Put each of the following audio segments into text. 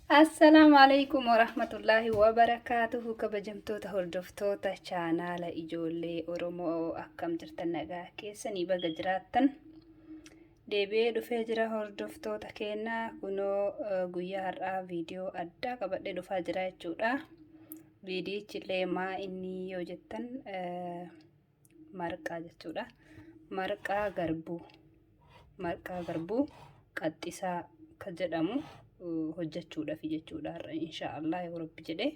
Assalaamu alaikum warahmatullaahi wabarakaatuhu kabajamtoota hordoftoota chaanaala ijoollee Oromoo akkam jirtan nagaa keessanii baga jiraattan deebi'ee dhufee jira hordoftoota keenya kunoo eh, guyyaa har'aa viidiyoo addaa qabadhee dhufaa jira jechuudha viidiyichi illee maa inni yoo jettan eh, marqaa jechuudha. Marqaa garbuu marqaa garbuu qaxxisaa akka jedhamu hojjechuudhaaf jechuudha har'a insha Allah yoo rabbi jedhe.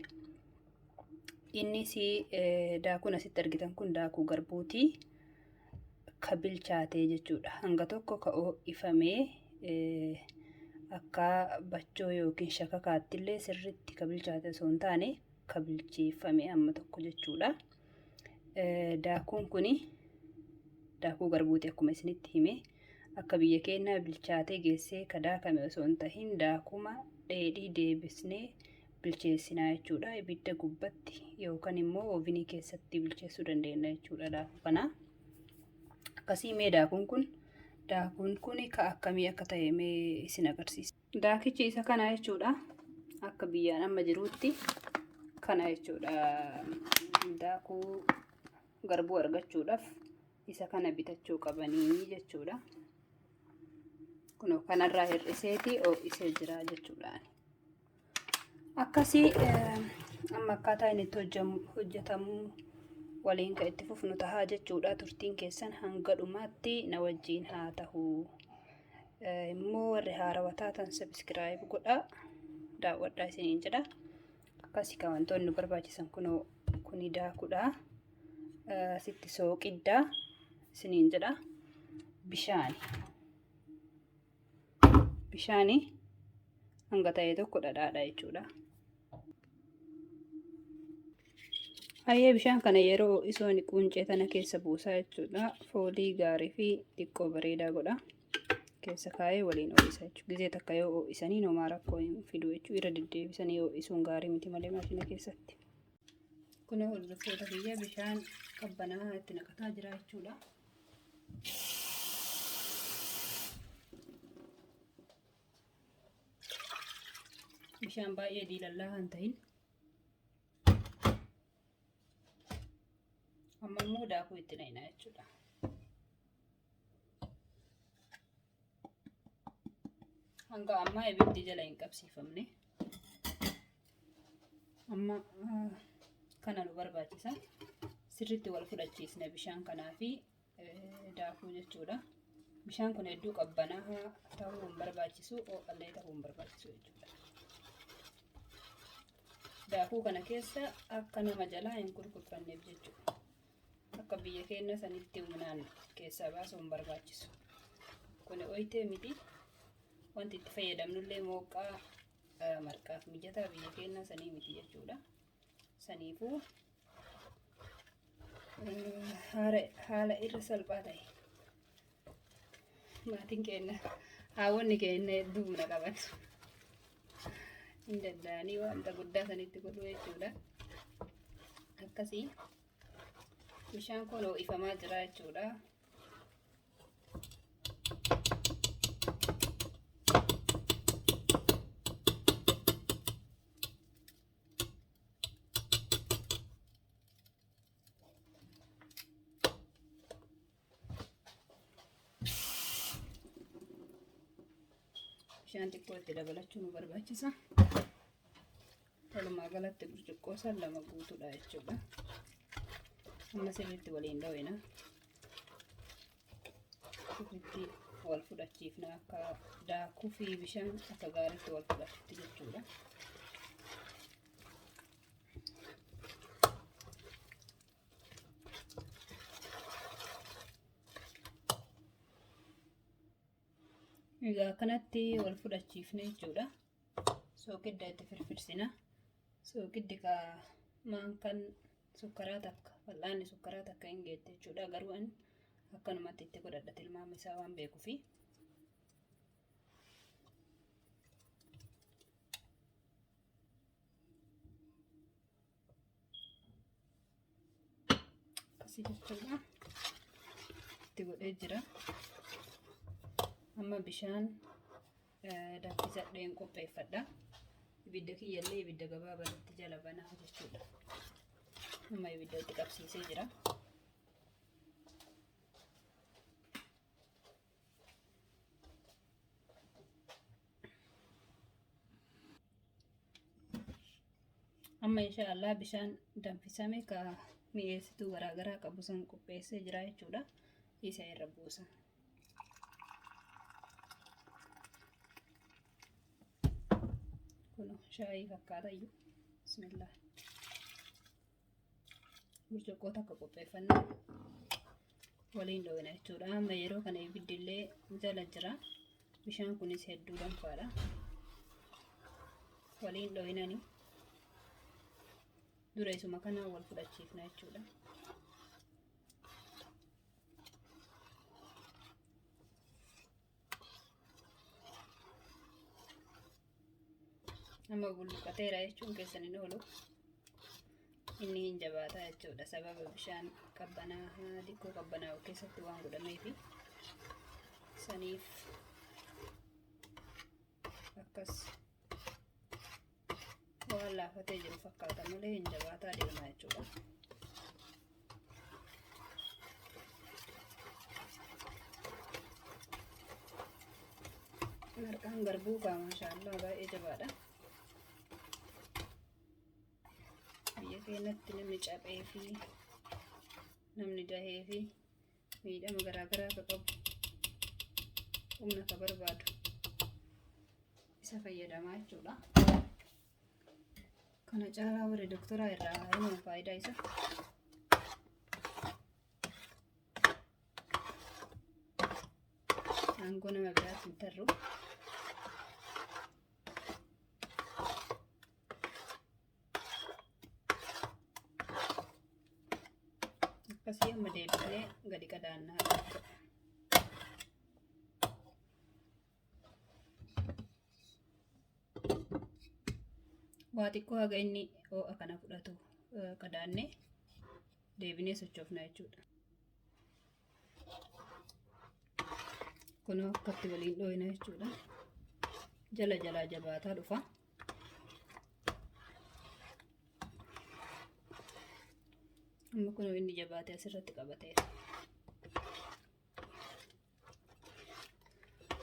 Innis daakuun asitti argitan kun daakuu garbuuti ka bilchaatee jechuudha. Hanga tokko ka ho'ifamee akka bachoo yookiin shakakaattillee sirriitti ka bilchaate osoo hin taane ka bilcheeffame amma tokko jechuudha. Daakuun kun daakuu garbuuti akkuma isinitti hime akka biyya keenyaa bilchaatee geessee ka daakame osoo hin tahin daakuma dheedhii deebisnee bilcheessinaa jechuudha. Ibidda gubbatti yookaan immoo oovinii keessatti bilcheessuu dandeenya jechuudha daakuu kana. Akkasii mee daakuun kun daakuun kun ka akkamii akka ta'e mee isin agarsiisa. Daakichi isa kana jechuudha. Akka biyyaan amma jiruutti kana jechuudha. Daakuu garbuu argachuudhaaf isa kana bitachuu qabanii jechuudha. Kunoo kanarraa hir'iseeti ho'isee jira jechuudha. Akkasii amma akkaataa inni itti hojjetamu waliin kan itti fufnu tahaa jechuudha. Turtiin keessan hanga dhumaatti na wajjin haa tahu. immoo warri haarawa taatan sabiskiraayib godhaa daawwadhaa isiniin jedha akkasii kan wantoonni barbaachisan kunoo kuni daakudha sitti sooqiddaa isiniin jedha bishaani bishaani hanga ta'e tokko dhadhaadha jechuudha Hayyee bishaan kana yeroo isoon quncee tana keessa buusaa jechuudha. Foolii gaarii fi xiqqoo bareedaa godha. Keessa kaa'ee waliin ho'isa jechuudha. Gizee takka yoo ho'isanii nomaa rakkoo hin fidu jechuudha. Irra deddeebisanii ho'isuun gaarii miti malee maashina keessatti. Kun hordoftoota biyya bishaan qabbanaa itti naqataa jira jechuudha. Bishaan baay'ee diilallaa kan ta'in. Amma immoo daakuu itti naqna jechuudha. Hanga ammaa ibiddi jala hin qabsiifamne. Amma kana nu barbaachisa. Sirriitti wal fudhachiisna bishaan kanaa fi daakuu jechuudha. Bishaan kun hedduu qabbanaa'aa ta'uu hin barbaachisu, oo'allee ta'uu hin barbaachisu jechuudha. Daakuu kana keessa akka nama jalaa hin kurkurfanneef jechuudha. Akka biyya keenya sanitti humnaan keessaa baasuu hin barbaachisu. Kun oyitee miti. Wanti itti fayyadamnullee mooqqaa marqaaf mijataa biyya keenya sanii miti jechuudha. Saniifuu haala irra salphaa ta'e maatiin keenya haawwanni keenya hedduu buna qabatu. Hin danda'anii wanta guddaa sanitti godhu jechuudha. Akkasii bishaan kun ho'ifamaa jira jechuudha. bishaan xiqqoo itti dabalachuu nu barbaachisa. Walumaa galatti burcuqqoo san lama guutuudha jechuudha. Amma sirriitti waliin dhawina. akkasitti wal fudhachiifna akka daakuu fi bishaan akka gaariitti wal fudhatutti jechuudha. Egaa akkanatti wal fudhachiifne jechuudha. Soogidda itti firfirsina. Soogiddi kaa maankaan sukkaraa takka fal'aanni sukkaraa takka hin geette jechuudha garuu an akkanumatti itti godhadha tilmaama isaa waan beekuufi. Asii jechuudha. Itti godhee jira. Amma bishaan danfisadheen qopheeffadha. Ibidda kiyyallee ibidda gabaabaa itti jala banaa jechuudha. Amma ibidda itti qabsiisee jira. amma insha Allah bishaan danfisame ka mi'eessituu garaagaraa qabu san qopheessee jira jechuudha isa irra buusa. Kun shaayii fakkaata iyyuu. Bismillah. Burcuqqoo takka qopheeffannaa waliin dhoowwina jechuudha. Amma yeroo kana ibiddi illee jala jira. Bishaan kunis hedduu danfaadha. Waliin dhoowinani dura isuma kana wal fudhachiifna jechuudha. nama bulluqateera jechuun keessan hin oolu inni hin jabaataa jechuudha sababa bishaan qabbanaa dikkoo qabbanaa'u keessatti waan godhameefi saniif akkas waan laafatee jiru fakkaata malee hin jabaataa deemaa jechuudha. Marqaan garbuu kaa maashaallah baay'ee jabaadha. Biyya keenyatti namni caphee fi namni dahee fi miidhama garaagaraa akka qabu humna akka barbaadu isa fayyadamaa jechuudha. Kana caalaa warri doktoraa irraa himan faayidaa isa. Aangoo nama biraatti hin tarru. akkasii amma deebinee gadi qadaannaa jechuudha. waa xiqqoo haga inni ho'a kana fudhatu qadaannee deebinee sochoofna jechuudha. kunoo akkatti waliin dhooyna jechuudha jala jalaa jabaataa dhufa amma kunoo inni jabaatee asirratti qabateera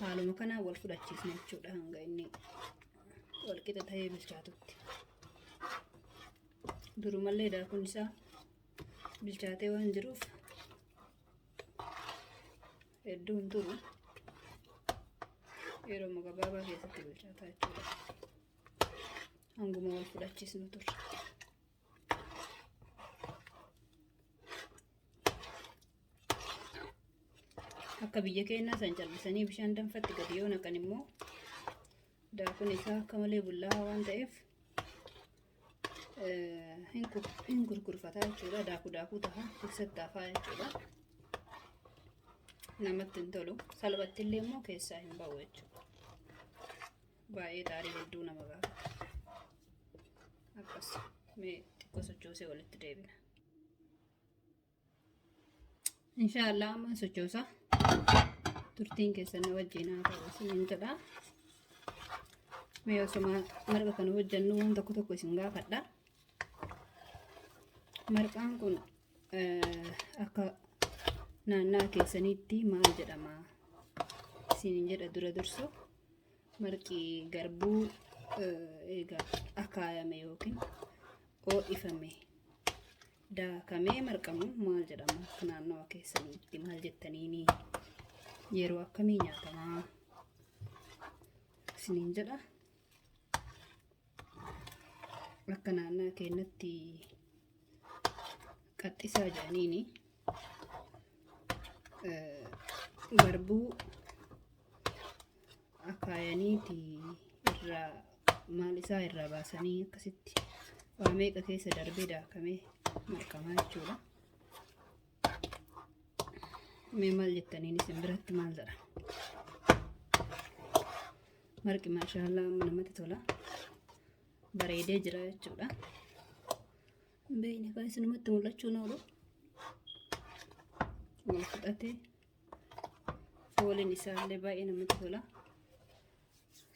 haaluma kanaan wal fudhachiisna jechuudha hanga inni wal qixa ta'ee bilchaatutti durumallee daakuun isaa bilchaatee waan jiruuf hedduu hin turu yeroo gabaabaa keessatti bilchaataa jechuudha hanguma wal fudhachiisnu turre. akka biyya keenyaa san callisanii bishaan danfatti gadi yoo naqan immoo daakuun isaa akka malee bullaa'aa waan ta'eef hin gurgurfataa jechuudha daakuu daakuu taha keessatti hafaa jechuudha namatti hin tolu salphatti illee immoo keessaa hin ba'u jechuudha baay'ee xaarii hedduu nama gaafata akkas mee xiqqoo sochoosee walitti deebina. insha Allah amma sochoosa turtiin keessan na wajjin haa ta'u isiniin jedha mee osuma marqa kana hojjennu waan tokko tokko isin gaafadha marqaan kun eh, akka naannaa keessaniitti maal jedhama isiniin jedha dura dursu marqi garbuu eh, eega akaayame yookiin oo'ifame Daakamee marqamuun maal jedhama akka naannawa keessaniitti maal jettaniini yeroo akkamii nyaatamaa isiniin jedha akka naannaa keenyatti qaxxisaa jedhaniini garbuu akaayaniiti irraa maal isaa irraa baasanii akkasitti waa meeqa keessa darbee daakamee marqamaa jechuudha. Mee maal jettaniin isin biratti maal jedha? Marqi maashaallah amma namatti tola. Bareedee jira jechuudha. Beeyni kan isinumatti mul'achuu noolu. Wal fudhatee. fooliin isaallee baay'ee namatti tola.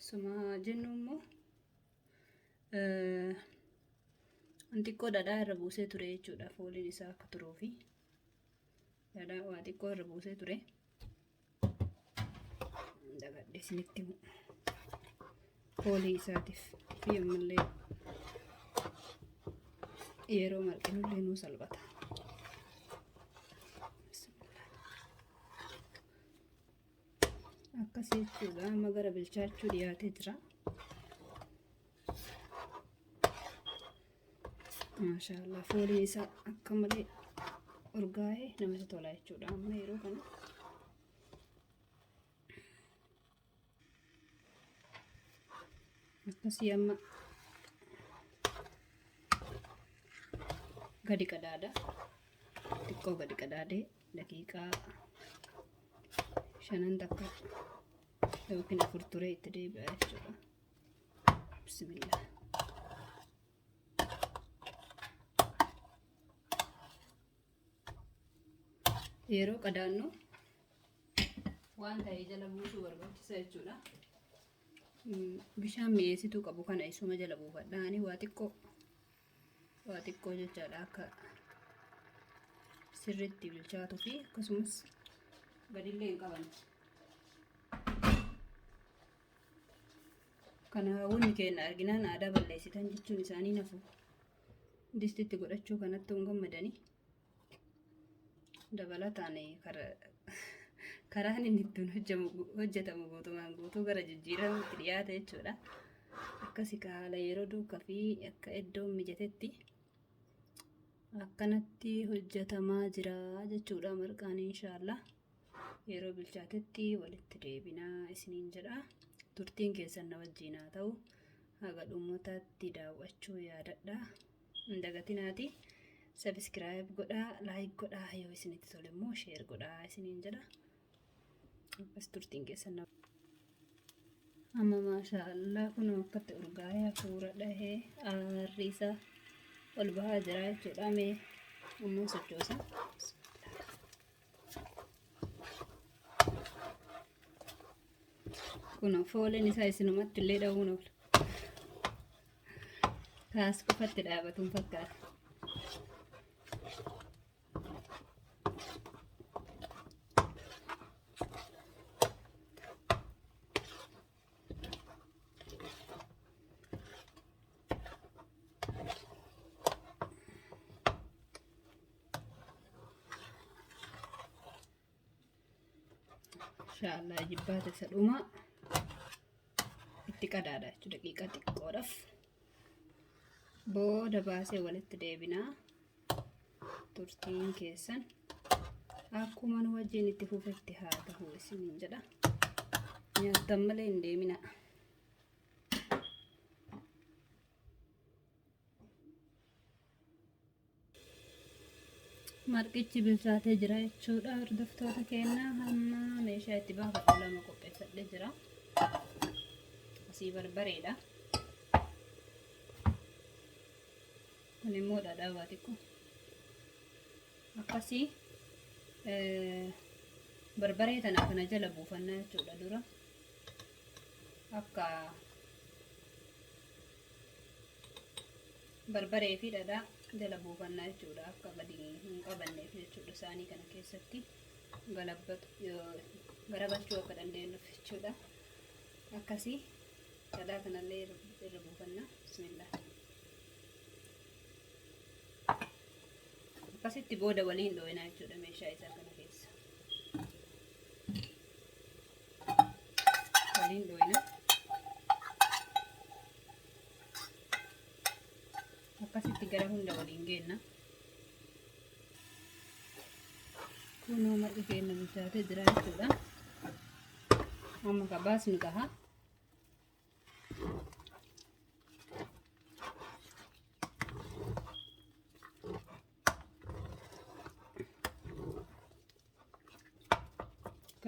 Suma jennu immoo xiqqoo dhadhaa irra buusee ture jechuudha fooliin isaa akka turuu fi dhadhaa waa xiqqoo irra buusee ture. Dagadhee isinitti himu. foolii isaatiif fi ammallee yeroo marqinullee nuu salphata. Akkasii jechuudha amma gara bilchaachuu dhiyaatee jira. Maashaallah fooliin isaa akka malee urgaa'ee namatti tola jechuudha amma yeroo kana. akkasii amma gadi qadaada xiqqoo gadi qadaadee daqiiqaa shanan takka yookiin afur turee itti deebi'a jechuudha bismillah yeroo qadaannu waan ta'e jala buusuu barbaachisa jechuudha. Mm, Bishaan mi'eessituu qabu kana isuma jala buufadha. Ani waa xiqqoo waa xiqqoo jechaadha akka sirriitti bilchaatuu fi akkasumas gadillee hin qaban. Kana hawwonni keenya arginaan aadaa balleessitan jechuun isaanii nafu. distitti godhachuu kanatti hin gammadani dabalataan karaan inni ittiin hojjetamu guutumaan guutuu gara jijjiiramutti dhiyaata jechuudha. Akkasi ka haala yeroo duukaa fi akka iddoon mijatetti akkanatti hojjetamaa jira jechuudha marqaan inshaallah. yeroo bilchaatetti walitti deebinaa isiniin jedha. Turtiin keessan na wajjiin haa ta'u. Haga dhumutaatti daawwachuu yaadadha. Hin dagatinaati. Sabiskiraayib godhaa, laayik godhaa, yoo isinitti tole immoo sheer godhaa isiniin jedha. Akkas turtiin keessan na Amma maashaa Allah kunoo akkatti urgaa'ee hafuura dhahee aarri isaa ol bahaa jira jechuudha. Mee ammoo sochoosa. Kun fooliin isaa isinumatti illee dha'uun oola. Kaas qofatti dhaabatuun fakkaata. inshaallah jibbaata isa dhumaa itti qadaada jechuudha daqiiqaa xiqqoodhaaf booda baasee walitti deebinaa turtiin keessan akkuma nu wajjin itti fufetti haa tahu isiniin jedha nyaattan malee hin deemina marqichi bilchaatee jira jechuudha hordoftoota keenya hamma meeshaa itti baafadhu lama qopheeffadhe jira asii barbareedha kun immoo dhadhaa waa xiqqoo akkasii barbaree tana kana jala buufannaa jechuudha dura akka barbaree fi dhadhaa jala buufannaa jechuudha akka gadi hin qabanneef jechuudha saanii kana keessatti garagalchuu akka dandeenyuuf jechuudha akkasii Dhadhaa kanallee irra irra buufanna. Bismillah. Akkasitti booda waliin dhooyinaa jechuudha meeshaa isaa kana keessa. Waliin dhooyina. Akkasitti gara hunda waliin geenna. Kunoo marqi keenya bilchaatee jira jechuudha. Amma ka baasnu taha.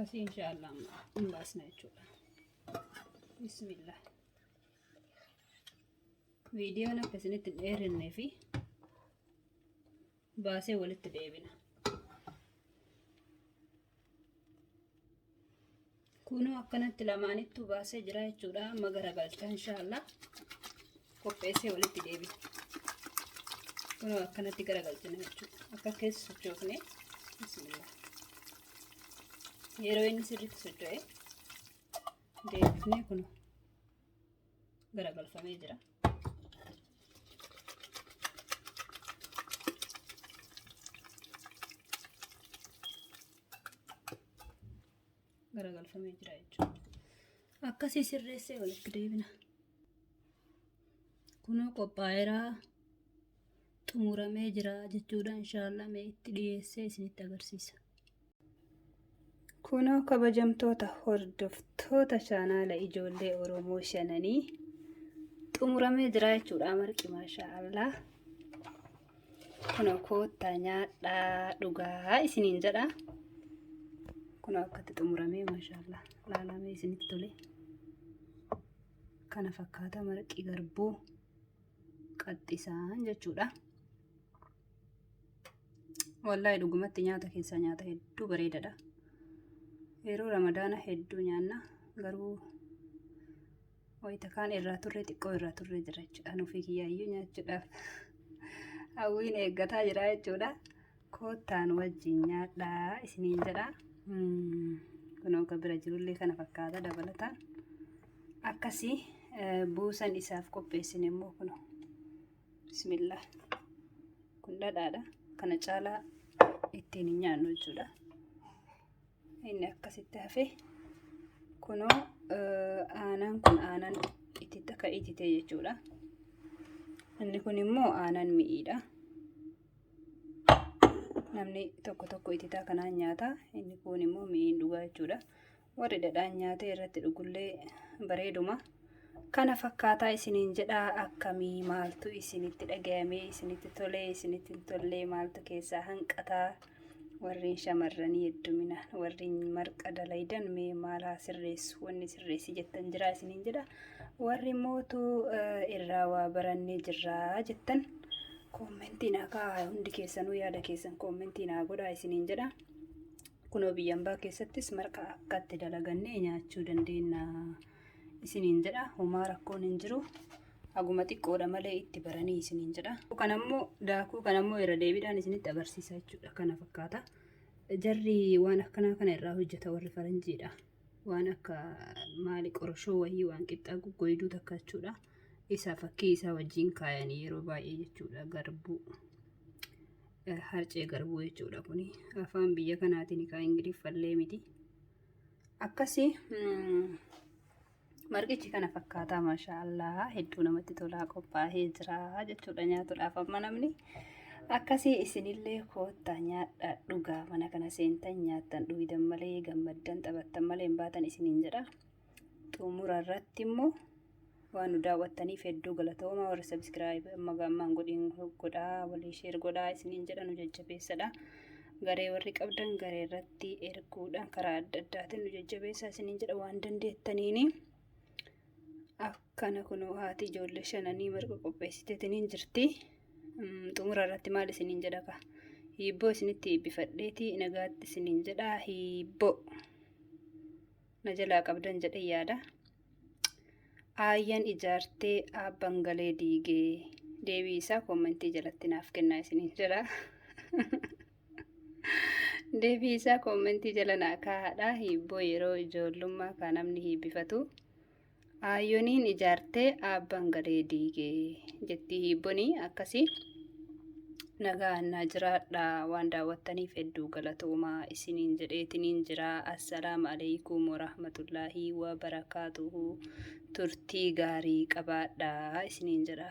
akkasii inshaallah hin baasna jechuudha bismillah viidiyoon akka isinitti hin dheerinne fi baasee walitti deebina. Kunoo akkanatti lamaanittuu baasee jira jechuudha. Amma garagalcha inshaallah qopheessee walitti deebina. Kunoo akkanatti garagalchina jechuudha. Akka keessa sochoofne bismillah. Yeroo inni sirriitti socho'e deebifnee kunoo garagalfamee jira. garagalfamee jira jechuudha akkasii sirreessee walitti deebina kunoo qophaa'eeraa xumuramee jira jechuudha inshaallah mee itti dhiyeessee isinitti agarsiisa Kunoo kabajamtoota hordoftoota chaanaala ijoollee Oromoo shananii xumuramee jira jechuudha marqi maashaa Allah. Kunoo koottaa nyaadhaa dhugaa isiniin jedha. Kunoo akkatti xumuramee maashaa Allah laalamee isinitti tole. Kana fakkaata marqi garbuu qaxxisaan jechuudha. Wallahi dhugumatti nyaata keessaa nyaata hedduu bareedadha. Yeroo ramadaana hedduu nyaanna garuu wayita kaan irraa turre xiqqoo irraa turre jira jechuudha. Nuufii kiyyaayyuu nyaachuudhaaf hawwiin eeggataa jira jechuudha. Koottaan wajjin nyaadhaa isiniin jedha. Hmm, Kunoo kan bira jirullee kana fakkaata dabalataan. Akkasii eh, buusan isaaf qopheessine immoo kunoo. bismillah kun dhadhaadha kana caalaa ittiin hin nyaannu jechuudha inni akkasitti hafe kunoo aanaan kun aanaan itti takka itite jechuudha inni kun immoo aanaan mi'iidha namni tokko tokko ititaa kanaan nyaata inni kun immoo mi'iin dhugaa jechuudha warri dhadhaan nyaatee irratti dhugullee bareeduma. Kana fakkaataa isiniin jedhaa akkamii maaltu isinitti dhagayamee isinitti tolee isinitti hin tollee maaltu keessaa hanqataa warreen shamarranii heddumina warreen marqa dalaydan mee maalaa sirreessu wanni sirreessi jettan jiraa isiniin jedha warri mootu irraa waa barannee jirraa jettan koommentiin akaa hundi keessanuu yaada keessan koommentiin haa godhaa isiniin jedha. Kunoo biyya ambaa keessattis marqa akkatti dalagannee nyaachuu dandeenya isiniin jedha. Homaa rakkoon hin jiru. Haguma xiqqoodha malee itti baranii isiniin jedha. Kan ammoo daakuu kan ammoo irra deebiidhaan isinitti agarsiisa jechuudha. Kana fakkaata. Jarri waan akkanaa kana irraa hojjeta warri faranjiidha. waan akka maali qoroshoo wayii waan qixxaa goggoyduu takka jechuudha. Isaa fakkii isaa wajjin kaayanii yeroo baay'ee jechuudha garbuu. Eh, Harcee garbuu jechuudha kuni. Afaan biyya kanaatiin kaa Ingiliffallee miti. Akkasii mm, Marqichi kana fakkaataa maashaa allaha hedduu namatti tolaa qophaa'ee jira jechuudha nyaatuudhaaf amma namni akkasii isinillee koottaa nyaadhaa dhugaa mana kana seentan nyaattan dhugidan malee gammaddan taphattan malee hin baatan isiniin jedha xumura irratti immoo waan nu daawwattaniif hedduu galatooma warri sabiskiraayib amma gaammaan godhiin godhaa walii sheer godhaa isiniin jedha nu jajjabeessadha garee warri qabdan garee irratti itti erguudhaan karaa adda addaatiin nu jajjabeessaa isiniin jedha waan dandeettaniini. Akkana kunoo haati ijoollee shananii marga qopheessiteetiniin jirti. Xumura irratti maal isiniin jedha kaa? Hiibboo isinitti eebbifadheeti nagaatti isiniin jedha hiibboo. Na jalaa qabdan jedhee yaada. Aayyan ijaartee aabban galee diigee deebii isaa koomentii jalatti naaf kennaa isiniin jedha. Deebii isaa koommentii jala naa kaa'aadha. Hiibboo yeroo ijoollummaa kan namni hiibbifatu. Aayoniin ijaartee abbaan galee diigee jettii hiibbonii akkasii. Nagaa annaa jiraadha waan daawwattaniif hedduu galatoomaa isiniin jedheetiniin jira. Assalaam alaikum warahmatullaahi wabarakaatuhu turtii gaarii qabaadha isiniin jedha.